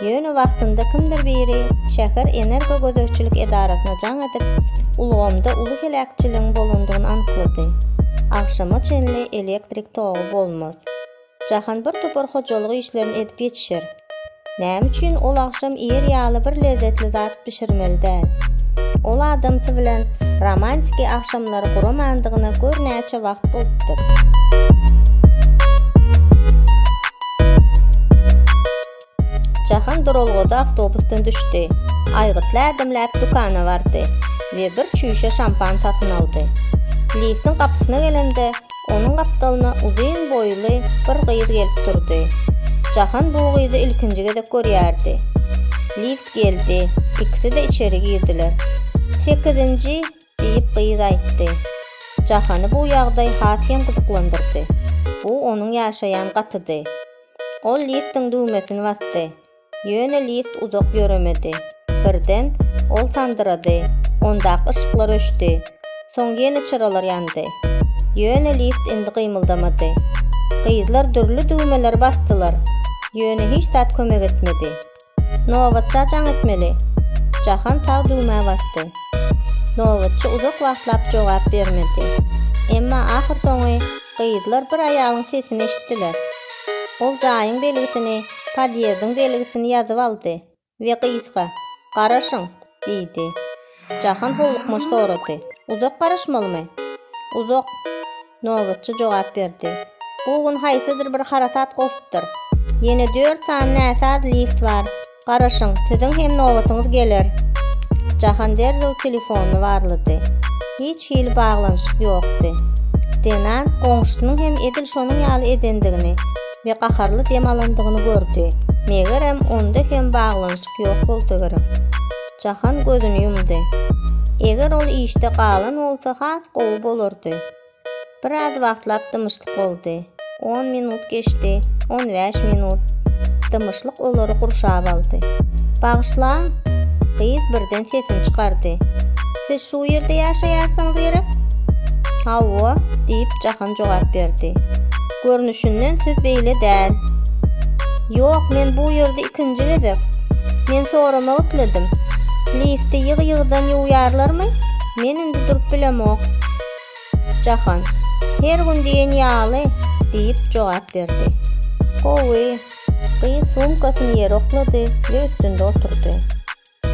Ýöne wagtynda kimdir biri şäher energo gözegçilik edarasyna jaň edip, ulgamda uly heläkçiligiň bolandygyny anyklady. Agşama çenli elektrik togy bolmaz. Jahan bir topar hojalyk işlerini edip ýetişer. Näme üçin ol agşam ir ýaly bir lezzetli zat bişirmeli däl? Ol adamsy bilen romantiki agşamlary guramandygyna gör näçe wagt bolupdyr. Jahan duralgada awtobusdan düşdi. Aýgytly ädimläp dükana bardy we bir çüýşe şampan satyn aldy. Liftiň gapysyna gelende, onuň gapdalyna uzyn boýly bir gyz gelip durdy. Jahan bu gyzy ilkinji gezek görýärdi. Lift geldi, ikisi-de içeri girdiler. Sekizinji, diýip gyz aýtdy. Jahany bu ýagdaý has hem gyzyklandyrdy. Bu onuň ýaşaýan gatydy. Ol liftiň düwmesini basdy. Ýöne lift uzak ýöremedi. Birden, ol sandyrady, ondaky yşyklar öçdi. Soň ýene çyralar ýandy. Ýöne lift indi gymyldamady. Gyzlar dürli düwmeleri basdylar, ýöne hiç zat kömek etmedi. Nobatça jaň etmeli. Jahan sag düwmä basdy. Nobatçy uzak wagtlap jogap bermedi. Emma ahyrsoňy gyzlar bir aýalyň sesini eşitdiler. Ol jaýyň belgisini, podýezdiň belgisini ýazyp aldy we gyzga, Garaşyň! diýdi. Jahan howlukmaç sorady, Uzak garaşmalymy? Uzak. Nobatçy jogap berdi. Bu gün haýsydyr bir harasat gopupdyr. Ýene dört sany näsaz lift bar. Garaşyň, siziň hem nobatyňyz geler. Jahan derrew telefonyny barlady. Hiç hili baglanyşyk ýokdy. Denan goňşusynyň hem edil şonuň ýaly edendigini we gaharly dem alandygyny gördi. Megerem, onda hem baglanyşyk ýok bolsa gerek. Jahan gözüni ýumdy. Eger ol işde galan bolsa has gowy bolardy. Biraz wagtlap dymyşlyk boldy. On minut geçdi, on bäş minut. Dymyşlyk olary gurşap aldy. Bagyşla! Gyz birden sesini çykardy. Siz şu ýerde ýaşaýarsyňyz gerek? Hawa, diýip Jahan jogap berdi. Görnüşinden söz beýle däl. Ýok, men bu ýerde ikinji gezek. Men soramak isledim. Lifti ýygy-ýygydan ýuwýarlarmy? Men indi durup bilemok. Jahan, Her gün diýen ýaly, diýip jogap berdi. Gowy. Gyz sumkasyny ýere oklady we üstünde oturdy.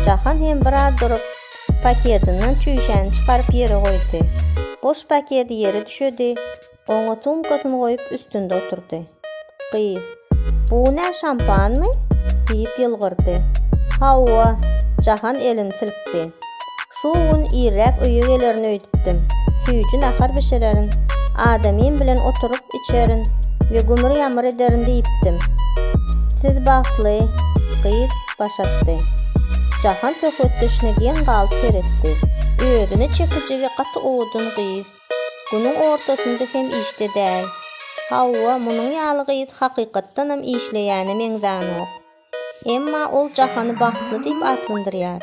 Jahan hem biraz durup, paketinden çüýşäni çykaryp ýere goýdy. Boş paketi ýere düşedi, Oňa sumkasyny goýup üstünde oturdy. Gyz, Bu nä şampanmy? diýip ýylgyrdy. Hawa, Jahan elini silkdi. Şu gün irräk öýe gelerin öýdüpdim. Süýji nahar bişirerin, adamym bilen oturyp içerin we gümür-ýamyr ederin diýipdim. Siz bagtly, gyz baş atdy. Jahan söhbetdeşine geň galyp seretdi. Özüne çekijigi gaty owadan gyz. Günüň ortasynda hem işde däl. Hawa, munuň ýaly gyz hakykatdanam işleýäne meňzänok. Emma ol Jahany bagtly diýip atlandyrýar.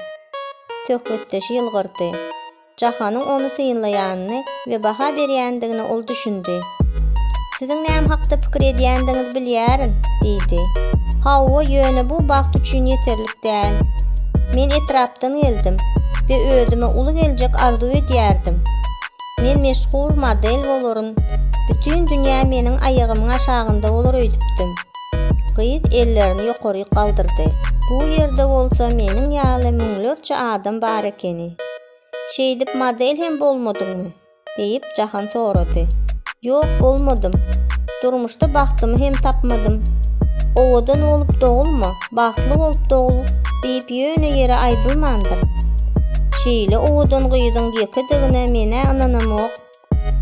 Söhbetdeşi ýylgyrdy. Jahanyň ony synlaýanyny we baha berýändigine ol düşündi. Siziň näme hakda pikir edýändigiňizi bilýärin, diýdi. Hawa, ýöne bu bagt üçin ýeterlik Däl. Men etrapdan geldim we özüme uly geljek arzuw edýärdim. Men meşhur model bolaryn, bütin dünýä meniň aýagymyň aşagynda bolar öýdüpdim. Gyz ellerini ýokaryk galdyrdy. Bu ýerde bolsa meniň ýaly müňlerçe adam bar ekeni. Şeýdip model hem bolmadyňmy? diýip, Jahan sorady. Ýok, bolmadym. Durmuşda bagtymy hem tapmadym. Owadan bolup dogulma, bagtly bolup dogul diýip ýöne ýere aýdylmandyr. Şeýle owadan gyzyň ýekedigine men-ä ynanamok,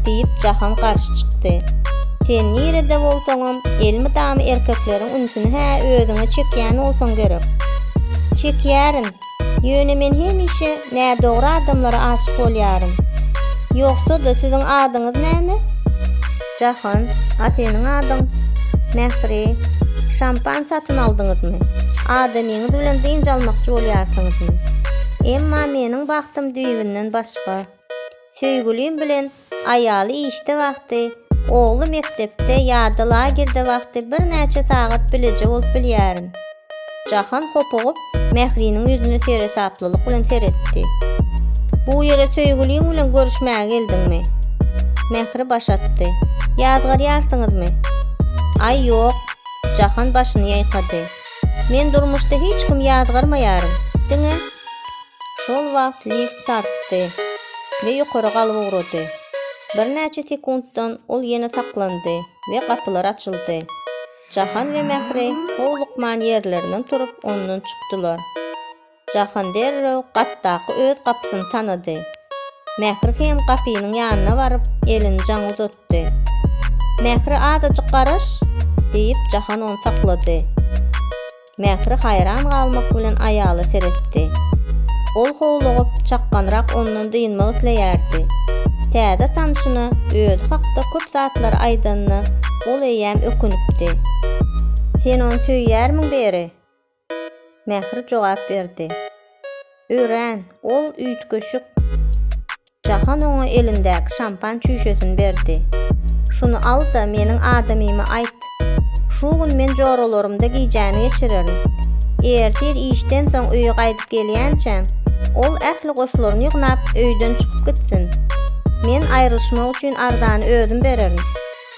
diýip, Jahan garşy çykdy. Sen nirede bolsaňam, elmydama erkekleriň ünsüni-hä özüňe çekýän bolsaň gerek. Çekýärin, Ýöne men hemişe nädogry adamlara aşyk bolýaryn. Ýogsa-da siziň adyňyz näme? Jahan, a seniň adyň? Mähri, şampan satyn aldyňyzmy? Adamyňyz bilen dynç almakçy bolýarsyňyzmy? Emma meniň bagtym düýbünden başga. Söýgülim bilen aýaly işde wagty, ogly mekdepde ýa-da lagerde wagty birnäçe sagat bileje bolup bilýärin. Jahan hopugyp, Mähriniň ýüzüne seresaplylyk bilen seretdi. Bu ýere söýgüliň bilen görüşmäge geldiňmi? Mähri baş atdy. Ýazgarýarsyňyzmy? Aý, ýok. Jahan başyny ýaýkady. Men durmuşda hiç kimi ýazgarmaýaryn. Diňe. Şol wagt lift sarsdy we ýokary galyp ugrady. Birnäçe sekuntdan ol ýene saklandy we gapylar açyldy. Jahan we Mähri howlukman ýerlerinden turup ondan çykdylar. Jahan derrew gatdaky öz gapysyny tanady. Mähri hem gapynyň ýanyna baryp, elini jaňa uzatdy. Mähri azajyk garaş! diýip Jahan ony saklady. Mähri haýran galmak bilen aýala seretdi. Ol howlugyp, çakganrak ondan dynmak isleýärdi. Täze tanşyna özi hakda köp zatlary aýdanyna ol eýýäm ökünipdi. Sen ony söýýärmiň Beri? Mähri jogap berdi. Örän ol üýtgeşik. Jahan oňa elindäki şampan çüýşesini berdi. Şuny al-da, meniň adamyma aýt. Şu gün men joralarymda gijäni geçirerin. Ertir işden soň öýe gaýdyp gelýänçä, ol ähli goşlaryny ýygnap, öýden çykyp gitsin. Men aýrylyşmak üçin arzany özüm bererin.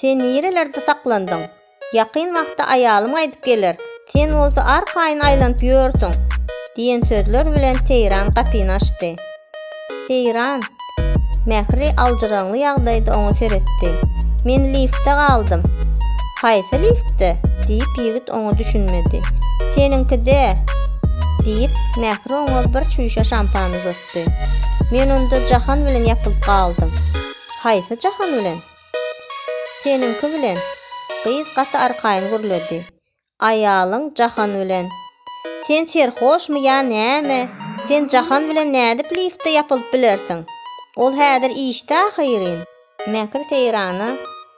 Sen nirelerde saklandyň? Ýakyn wagtda aýalym gaýdyp geler, sen bolsa arkaýyn aýlanyp ýörsüň, diýen sözler bilen Seýran gapyny açdy. Seýran, Mähri aljyraňly ýagdaýda oňa seretdi. Men liftde galdym. Haýsy liftde? diýip ýigit oňa düşünmedi. Seniňkide, diýip, Mähri oňa bir çüýşe şampan uzatdy. Men onda Jahan bilen ýapylyp galdym. Haýsy jahan bilen? Seniňki bilen, gyz gaty arkaýyn gürledi. Aýalyň jahan bilen. Sen serhoşmy ýa näme, sen jahan bilen nädip liftde ýapylyp bilersiň? Ol häzir işde ahyryn. Mähri Seýrana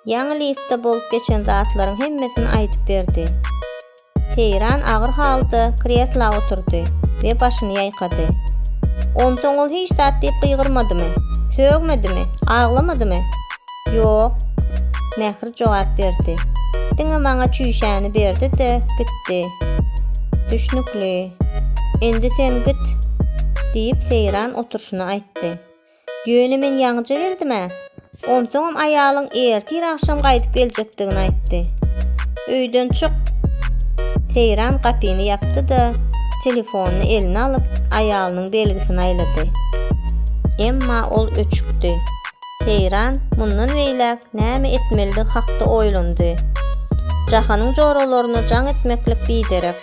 Ýaňy liftde bolup geçen zatlaryň hemmesini aýdyp berdi. Seýran agyr halda kresla oturdy we başyny ýaýkady. Onsoň ol hiç zat diýip gygyrmadymy? Sögmedimi? Aglamadymy? Ýok. Mähir jogap berdi. Diňe maňa çüýşäni berdi-de, gitdi. Düşnükli. Indi sen git, diýip Seýran oturşyna aýtdy. Ýöne men ýaňyja geldim-ä. Onsoňam aýalyň ertir agşam gaýdyp geljekdigini aýtdy. Öýden çyk! Seýran gapyny ýapdy-da, telefonyny eline alyp, aýalynyň belgisini aýlady. Emma ol öçükdi. Seýran mundan beýläk näme etmelidigi hakda oýlandy. Jahanyň joralaryna jaň etmeklik biderek.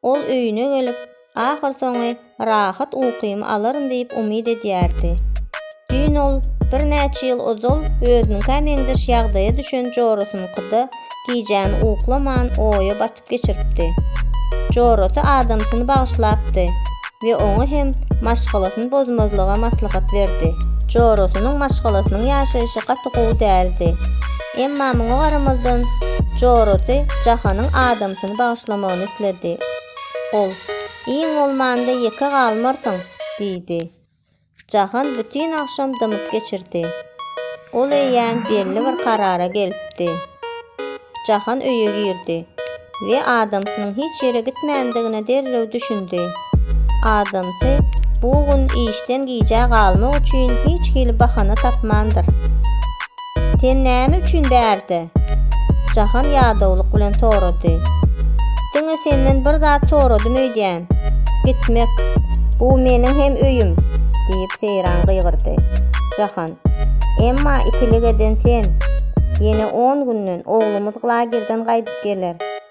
Ol öýüne gelip, ahyrsoňy rahat ukymy alaryn diýip umyt edýärdi. Düýn ol birnäçe ýyl ozal özüniňkä meňzeş ýagdaýa düşen jorasynyňkyda gijäni uklaman oýa batyp geçiripdi. Jorasy adamsyny bagyşlapdy, we oňa hem maşgalasyny bozmazlyga maslahat berdi. Jorasynyň maşgalasynyň ýaşaýşy gaty gowy däldi. Emma muňa garamazdan, jorasy Jahanyň adamsyny bagyşlamagyny isledi. Ol, Iň bolmanda ýeke galmarsyň, diýdi. Jahan bütin agşam dymyp geçirdi. Ol eýýäm belli bir karara gelipdi. Jahan öýe girdi we adamsynyň hiç ýere gitmändigine derrew düşündi. Adamsy bu gün işden gijä galmak üçin hiç hili bahana tapmandyr. Sen näme üçin bärde? Jahan ýadawlyk bilen sorady. Diňe senden bir zat soradym öýdýän. Gitmek. Bu meniň hem öýüm, diýip Seýran gygyrdy. Jahan. Emma ikilik eden sen. Ýene on günden oglumyz lagerden gaýdyp geler.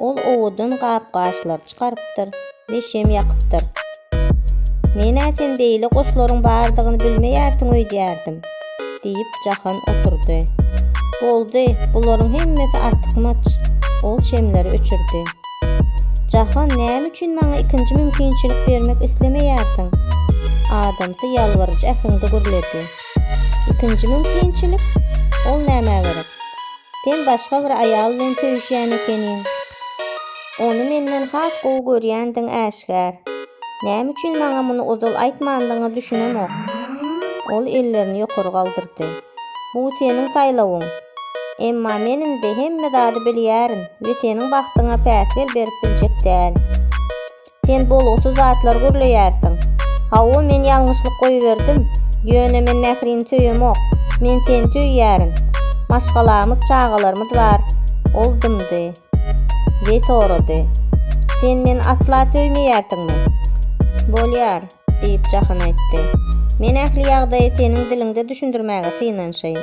Ol owadan gap-gaçlary çykarypdyr we şem ýakypdyr. Men-ä sen beýle guşlaryň bardygyny bilmeýärsiň öýdýärdim, diýip, Jahan oturdy. Boldy, bularyň hemmesi artykmaç. Ol şemleri öçürdi. Jahan, näme üçin maňa ikinji mümkinçilik bermek islemeýärsiň? adamsy ýalbaryjy äheňde gürledi. Ikinji mümkinçilik? Ol nämä gerek? Sen başga bir aýal bilen söýüşýän ekeniň. Ony menden has gowy görýändigiň äşgär. Näme üçin maňa muny ozal aýtmandygyňa düşünemok. Ol ellerini ýokary galdyrdy. Bu seniň saýlawyň. Emma men indi hemme zady bilýärin we seniň bagtyňa päsgel berip biljek däl. sen bolgusyz zatlar gürleýärsiň. Hawa, men ýalňyşlyk goýberdim. Ýöne men Mährini söýemok. Men seni söýýärin. Maşgalamyz, çagalarymyz bar. Ol dymdy. We sorady. Sen meni asla söýmeýärsiňmi? Bolýar, diýip Jahan aýtdy. Men ähli ýagdaýy seniň diliňde düşündirmäge synanşaýyn.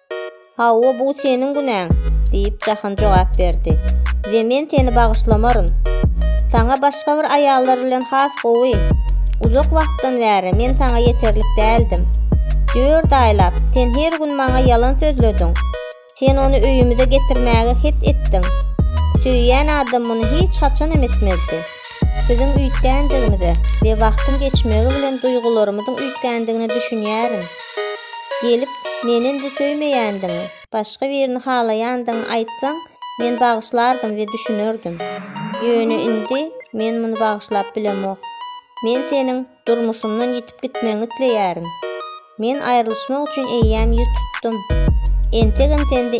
Hawa, bu seniň günäň, diýip, Jahan jogap berdi. We men seni bagyşlamaryn. Saňa başga bir aýallar bilen has gowy. Uzak wagtdan bäri men saňa ýeterlik däldim. Dört aýlap, sen her gün maňa ýalan sözlediň. Sen ony öýümize getirmäge het etdiň. Söýýän adam muny hiç haçanam etmezdi. Biziň üýtgändigimize we wagtyň geçmegi bilen duýgularymyzyň üýtgändigine düşünýärin. Gelip, meni indi söýmeýändigiňi, başga birini halaýandygyňy aýtsaň, men bagyşlardym we düşünerdim. Ýöne indi men muny bagyşlap bilemok. Men seniň durmuşymdan ýitip gitmegiňi isleýärin. Men aýrylyşmak üçin eýýäm ýüz tutdum. Entegem sende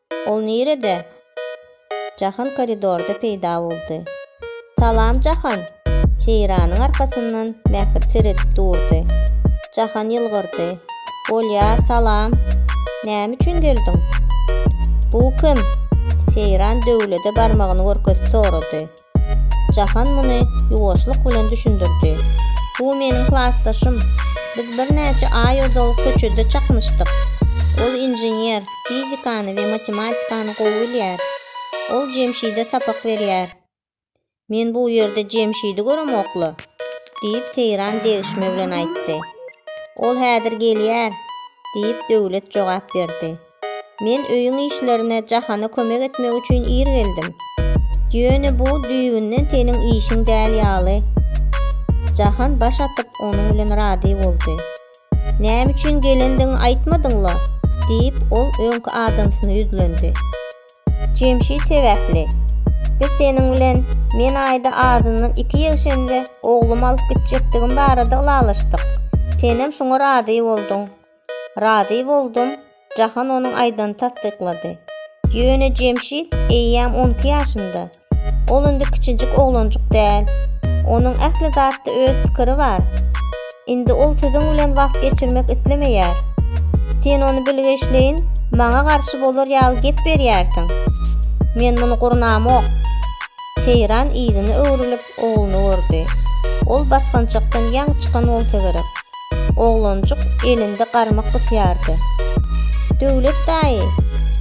Ol nirede? Jahan koridorda peýda boldy. Salam, Jahan! Seýranyň arkasyndan Mähir seredip durdy. Jahan ýylgyrdy. Bolýar, salam. Näme üçin geldiň? Bu kim? Seýran Döwlede barmagyny görkezip sorady. Jahan muny ýuwaşlyk bilen düşündirdi. Bu meniň klasdaşym. Biz birnäçe aý ozal köçede çaknyşdyk. Ol inžener, fizikany we matematikany gowy bilýär. Ol Jemşide sapak berýär. Men bu ýerde Jemşidi göremok-la, diýip, Seýran degişme bilen aýtdy. Ol häzir gelýär, diýip, Döwlet jogap berdi. Men öýüň işlerine Jahana kömek etmek üçin ir geldim. Ýöne bu düýbünden seniň işiň däl ýaly. Jahan baş atyp, onuň bilen razy boldy. Näme üçin gelendigiňi aýtmadyň-la? diýip, ol öňki adamsyna ýüzlendi. Jemşit sebäpli. Biz seniň bilen men aýda azyndan iki ýegşenje oglumy alyp gitjekdigim barada ylalaşdyk. Senem şoňa razy bolduň. Razy boldum, Jahan onuň aýdanyny tassyklady. Ýöne Jemşit eýýäm on iki ýaşynda. Ol indi kiçijik oglanjyk däl. Onuň ähli zatda öz pikiri bar. Indi ol siziň bilen wagt geçirmek islemeýär. Sen ony bilgeşleýin maňa garşy bolar ýaly gep berýärsiň. Men muny gurnamok. Seýran yzyna öwrülip, ogluny gördi. Ol basgançakdan ýaňy çykan bolsa gerek. Oglanjyk elinde garmak gysýardy. Döwlet daýy!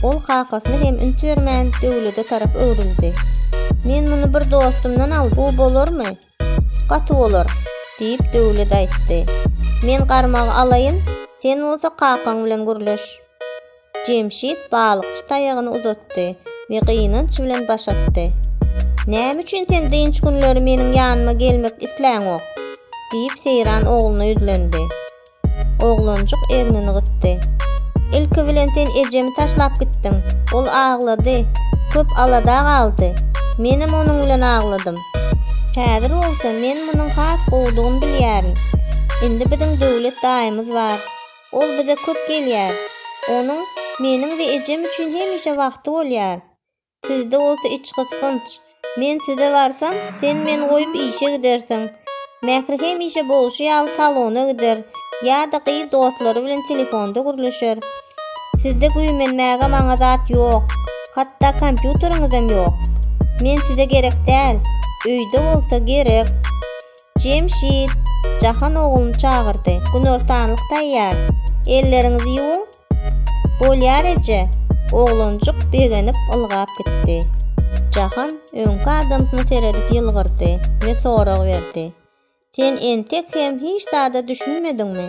Ol kakasyna hem üns bermän, Döwlede tarap öwrüldi. Men muny bir dostumdan aldym. Bu bolarmy? Gaty bolar! diýip, Döwlet aýtdy. Men garmagy alaýyn, sen bolsa kakaň bilen gürleş. Jemşit balykçy taýagyny uzatdy we gynanç bilen baş atdy. Näme üçin sen dynç günleri meniň ýanyma gelmek isläňok? diýip, Seýran ogluna ýüzlendi. Oglanjyk egnini gysdy. Ilki bilen sen ejemi taşlap gitdiň. Ol aglady, köp alada galdy. Menem onuň bilen agladym. Häzir bolsa men munuň has gowudygyny bilýärin. Indi biziň Döwlet daýymyz bar. Ol bize köp gelýär. Onuň meniň we ejem üçin hemişe wagty bolýar. Sizde bolsa içgysgynç. Men size barsam, sen meni goýup işe gidersiň. Mähri hemişe bolşy ýaly salona gider ýa-da gyz dostlary bilen telefonda gürleşer. Sizde güýmenmäge maňa zat ýok. Hatda kompýuteriňizem ýok. Men size gerek däl. Öýde bolsa gerek. Jemşit, Jahan ogluny çagyrdy. Günortanlyk taýýar. Elleriňizi ýuwuň. Bolýar eje. Oglanjyk begenip ylgap gitdi. Jahan öňki adamsyna seredip ýylgyrdy we sorag berdi. Sen entek hem hiç zada düşünmediňmi?